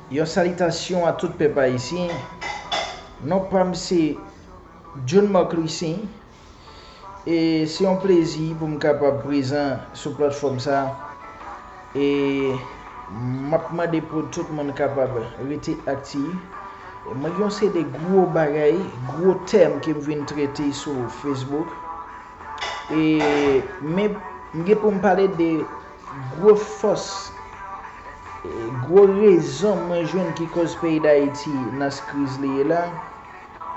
Yon salitasyon a tout pèp ayisyen, non pa m se John Marc Louissaint e se yon plezi pou m kapab prezan sou platfòm sa e m ap mande pou tout moun kapab rete aktif. Mwen gen yon seri de gwo bagay, gwo tèm ke m vin trete sou Facebook e men m gen pou m pale de Gwo fòs e gwo rezon mwen jwenn ki koz peyi Dayiti nan s kriz li ye la,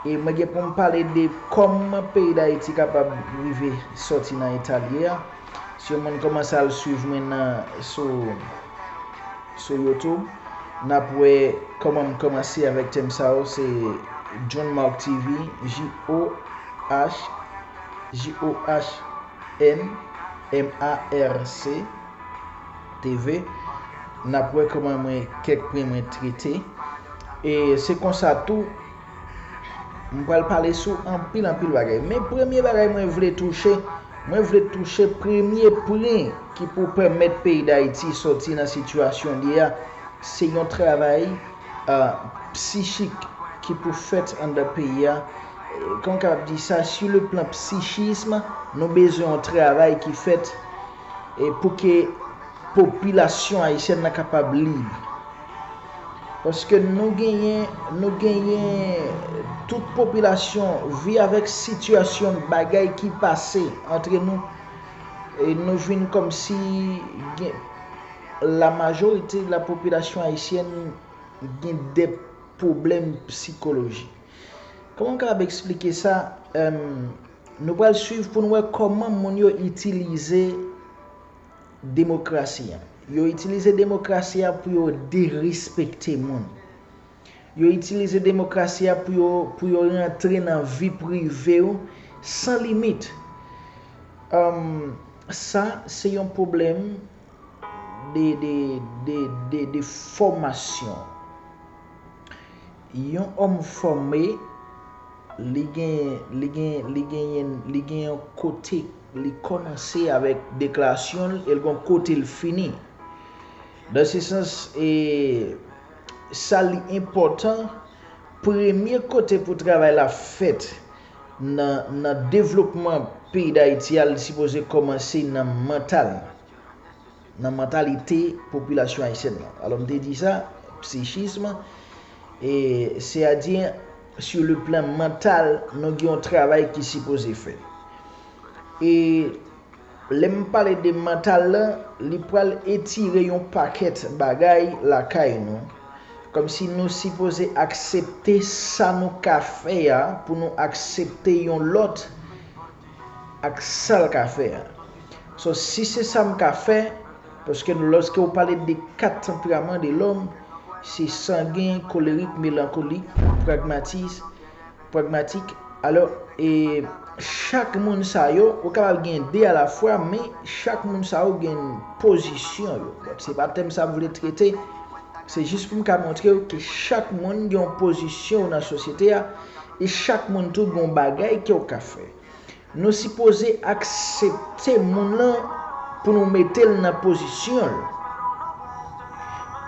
e mwen gen pou m pale de kòman peyi Dayiti kapab rive sòti nan eta l ye a. Si yon moun kòmanse al swiv mwen nan sou sou YouTube, n ap wè kòman m kòmanse avèk tèm sa yo, se John Marc TV, JOH, JOH. N MARC TV nap wè kòman mwen kèk pwen mwen trete e se konsa tou m pral pale sou anpil anpil bagay men premye bagay mwen vle touche mwen vle touche premye pwen ki pou pèmèt peyi dayiti sòti nan sitiyasyon li a se yon travay psichik ki pou fèt anndan peyi a, kòman m kapab di sa, su le plan psichism, nou bezwen yon travay ki fèt pou ke popilasyon ayisyèn nan kapab lib. Paske nou genyen, nou genyen tout popilasyon vi avèk sitiyasyon bagay ki pase antre nou, nou vin kòmsi gen. La majorite de la population haïtienne gen de pwoblèm psikoloji. Kòman m kapab eksplike sa? Nou pral swiv pou n wè kòman moun yo itilize demokrasi an. Yo itilize demokrasi a pou yo derespekte moun. Yo itilize demokrasi a pou yo rantre nan vi prive ou san limit. Sa se yon pwoblèm de fòmasyon. Yon òm fòme, li gen yon kote li kòmanse avèk deklarasyon l e l gen yon kote l fini. Nan se sans e sa li enpòtan, premye kote pou travay la fèt nan nan devlopman peyi dayiti a li sipoze kòmanse nan mantal nan mantalite popilasyon ayisyèn nan alò m te di sa psichism e se a di sou le plan mantal nou gen yon travay ki sipoze fèt e Lè m pale de mantal la, li pral etire yon pakèt bagay lakay nou. Kòmsi nou sipoze aksepte sa nou ka fè a pou nou aksepte yon lòt ak sa l ka fè a. So si se sa m ka fè, paske lòske ou pale de 4 tanperaman de lòm, se sangen, kolerik, melankolik, pragmatis, Pragmatik, Alò, e chak moun sa yo, ou kapab gen de alafwa, men chak moun sa yo gen pozisyon yo. Bon, se pa tèm sa m vle trete, se jis pou m ka montre w ke chak moun gen yon pozisyon w nan sosyete a, e chak moun tou gen yon bagay ke w ka fè. Nou sipoze aksepte moun lan pou nou mete l nan pozisyon l.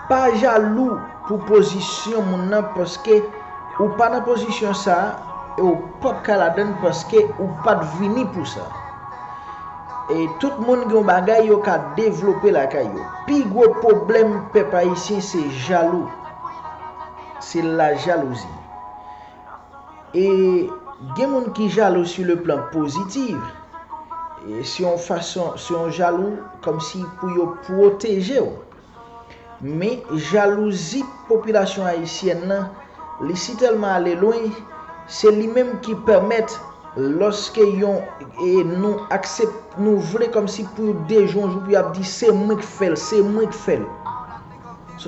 Pa jalou pou pozisyon moun lan paske ou pa nan pozisyon sa e w pap ka ladan l paske ou pat vini pou sa. E tout moun gen yon bagay yo ka devlope lakay yo. Pi gwo pwoblèm pèp ayisyen se jalou. Se lajalouzi. e gen moun ki jalou su le plan pozitiv e se yon fason se yon jalou kòmsi pou yo pwotejew men jalouzi popilasyon ayisyèn lan li si tèlman ale lwen se li menm ki pèmèt lòske yon e nou aksep nou vle kòmsi pou dejounjou pou yap di se mwen k fèl se mwen k fèl.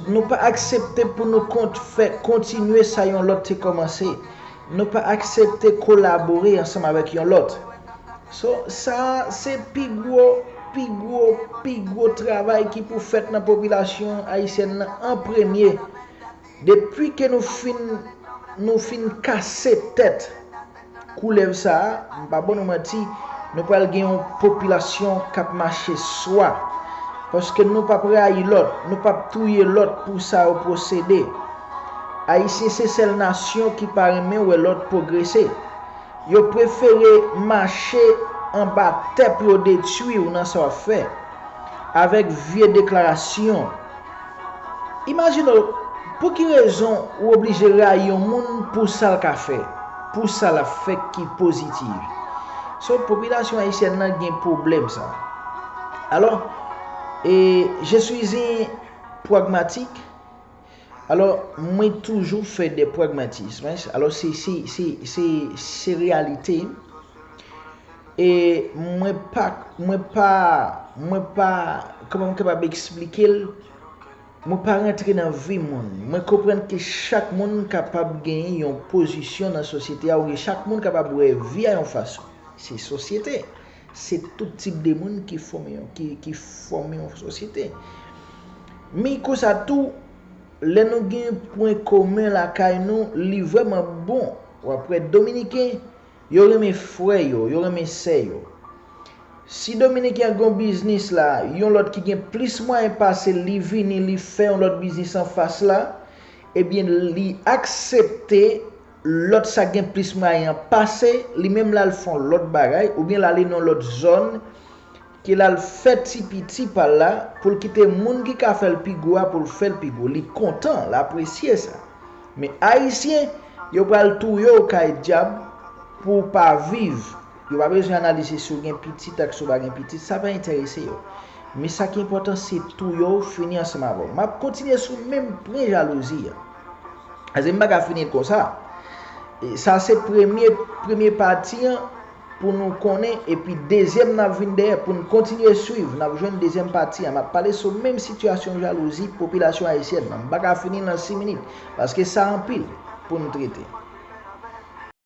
Nou pa aksepte pou nou kont fè kontinye sa yon lòt te kòmanse. Nou pa aksepte kolabore ansanm avèk yon lòt. So, sa a se pi gwo, pi gwo, pi gwo travay ki pou fèt nan popilasyon ayisyèn nan an premye. Depi ke nou fin, nou fin kase tèt. Koulèv sa a, m pa ban nou manti, nou pral gen yon popilasyon k ap mache swa. Paske nou p ap rayi lòt, nou p ap touye lòt pou sa yo posede. Ayisyen se sèl nasyon ki pa renmen wè lòt pwogrese. Yo prefere mache anba tè pou yo detwi w nan sa w ap fè. Avèk vye deklarasyon, Imajine w, pou ki rezon ou oblije rayi yon moun pou sa l ka fè, pou sa l ap fè ki positive. So, popilasyon ayisyèn lan gen pwoblèm sa. Alò, e je suis un pragmatique, alò mwen toujou fè des pragmatismes, alò se, se, se, se, se reyalite m. e mwen pa mwen pa mwen pa kòman m kapab eksplike l mwen pa rantre nan vi moun mwen konprann ke chak moun kapab genyen yon pozisyon nan sosyete a oubyen chak moun kapab wè vi a yon fason se sosyete se tout tip de moun ki fòme yon ki fòme yon sosyete men konsa tou lè nou gen pwen komen lakay nou li vrèman bon wap wè dominiken Yo renmen frè yo, yo renmen sè yo. Si Dominique an gen yon biznis la, yon lòt ki gen plis mwayen pase l li vini li fè yon lòt biznis anfas la, ebyen li aksepte lòt sa k gen plis mwayen an pase li menm l al fè yon lòt bagay oubyen l ale nan yon lòt zòn Ke lal fè ti piti pal la poul kite moun ki ka fèl pi gwo a poul fèl pi gwo li kontan l apresye sa men ayisyen yo pral touye w kay dyab pou w pa viv yo pa bezwen analize si w gen pitit ak si w pa gen pitit sa pa entèrese yo men sa ki enpòtan se touye w fini ansanm avè w map kontinye sou menm pwen jalouzi an paske m paka fini l konsa sa se premye premye pati an. pou nou konnen epi dezyèm nan ap vin dèyè pou n kontinye swiv n ap jwenn dezyèm pati an m ap pale sou menm sitiyasyon jalouzi popilasyon ayisyèn nan m pa ka fini l nan 6 minit paske sa anpil pou n trete.